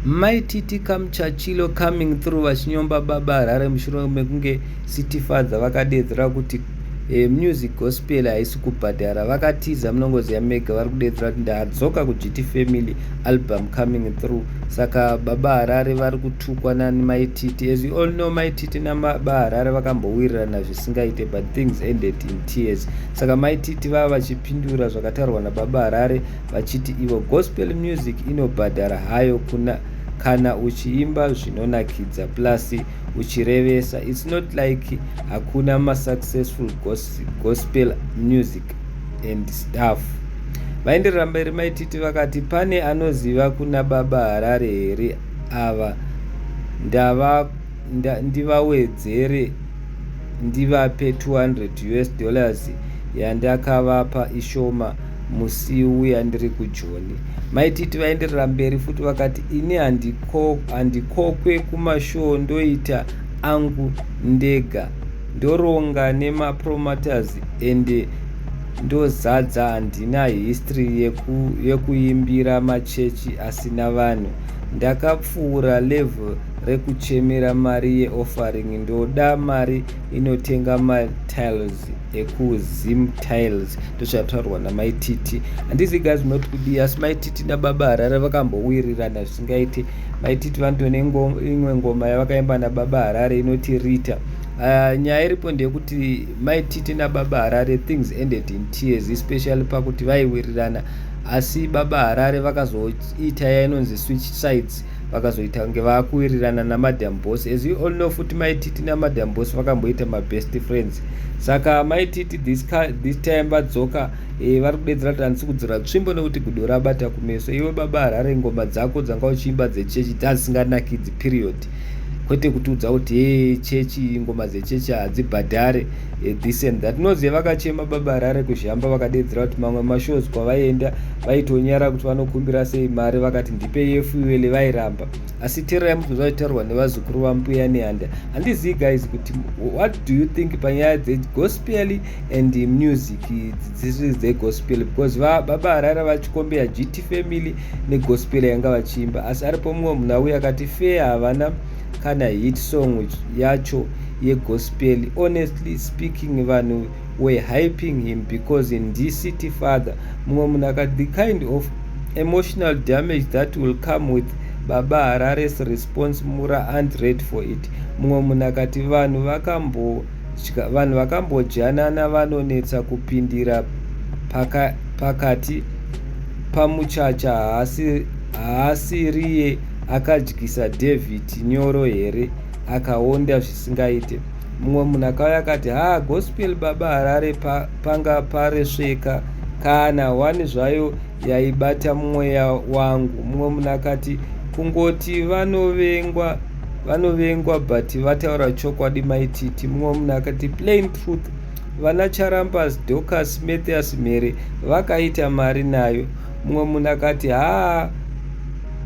Mai Titi Kamuchachilo coming through vachinyomba baba Harare mushure mekunge City Father vakadeedzera kuti e, music gospel haisi kubhadhara vakatiza munongoziva mega vari kudeedzera kuti ndadzoka kugt family album coming through saka baba harare vari kutukwa nani maititi as you all know maititi nababa harare vakambowirirana zvisingaite but things ended in tears saka maititi vava vachipindura zvakatarwa nababa harare vachiti ivo gospel music inobhadhara hayo kuna kana uchiimba zvinonakidza plus uchirevesa its not like hakuna masuccessful gospel music and staff vaenderera mberi maititi vakati pane anoziva kuna baba harare here ava ndava nda, ndivawedzere ndivape 200 us dollars yandakavapa ishoma musi uya ndiri kujoni mai titi vaenderera mberi futi vakati ini handikokwe kumashoo ndoita angu ndega ndoronga nemapromaters ende ndozadza handina history yeku, yekuimbira machechi asina vanhu ndakapfuura level rekuchemera mari yeoffering ndoda mari inotenga matiles ekuzim tiles ndozvataurwa namai titi handizi guys not kudii asi mai titi nababa harare vakambowirirana zvisingaiti mai titi vanotone imwe ngoma yavakaimba nababa harare inoti rita uh, nyaya iripo ndeyekuti mai titi nababa harare things ended in tears especially pakuti vaiwirirana asi baba harare vakazoita yainonzi switch sides vakazoita kunge vakuwirirana namadam boss as you all know futi mai titi namadam boss vakamboita mabest friends saka mai titi this, this time vadzoka e, vari kudedzera kuti handisi kudzora tsvimbo nekuti gudo rabata kumeso iwe baba harare ngoma dzako dzanga uchiimba dzechechi dzadzisinganakidzi period kwete kutiudza kuti e chechi ngoma dzechechi hadzibhadhare Eh, this and that noziva vakachema baba harare kuzhamba vakadedzera kuti mamwe mashows kwavaienda vaitonyara kuti vanokumbira sei mari vakati ndipe yefuele vairamba asi tero yamubvunza vachitaurwa nevazukuru vambuya nehanda handizii guys kuti what do you think panyaya dzegospel and music dzisiri dzegospel because baba harare vachikombeya gt family negospel yanga vachiimba asi aripo mumwe munhu auya akati fee havana kana hit song yacho yegospel honestly speaking vanhu were hyping him because in the city father mumwe munhu akati the kind of emotional damage that will come with baba harares response mura and red for it mumwe munhu akati vanhu vakambodya vanhu vakambodyanana vanonetsa kupindira pakati pamuchacha haasiriye paka akadyisa david nyoro here akaonda zvisingaite mumwe munhu akauya akati haa gospel baba harare pa, panga paresveka kana wani zvayo yaibata mweya wangu mumwe munhu akati kungoti vanovengwa vanovengwa but vataura chokwadi maititi mumwe munhu akati plain truth vana charambas docas mathias mhere vakaita mari nayo Mumwe munhu akati, Haa,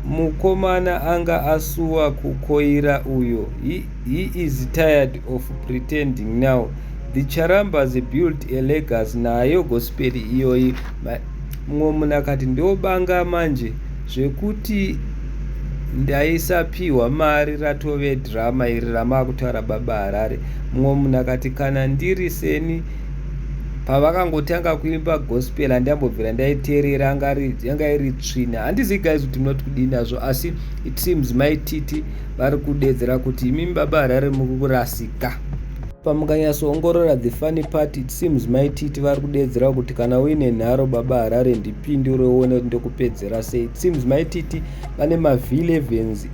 mukomana anga asuwa kukoira uyo. He, he is tired of pretending now. The Charambas built a legacy nayo gospel iyoyi. Mumwe munhu akati, Ndobanga manje zvekuti ndaisapiwa mari ratove drama iri ramakutaura baba harare mumwe munhu akati kana ndiri seni pavakangotanga kuimba gospel handiyambobvira ndaiteerera yanga iri tsvina handizi guys kuti munoti kudii nazvo asi it seems mai titi vari kudedzera kuti imimi baba harare muri kurasika pamukanyatsoongorora the funny part it seems mai titi vari kudedzera kuti kana uine nharo baba harare ndipindure uone kuti ndokupedzera sei it seems mai titi vane mavillevens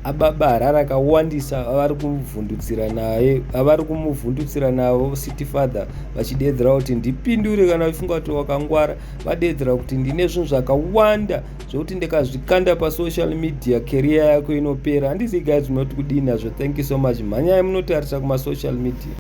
Ababa hara rakawandisa avari kuvhundutsira naye avari kumuvhundutsira navo city father vachideedzera kuti ndipindure kana uchifunga kuti wakangwara vadeedzera kuti ndine zvinhu zvakawanda zvekuti ndikazvikanda pasocial media career yako inopera handizigai zvinoti kudii nazvo thank you so much mhanyai munotarisa kumasocial media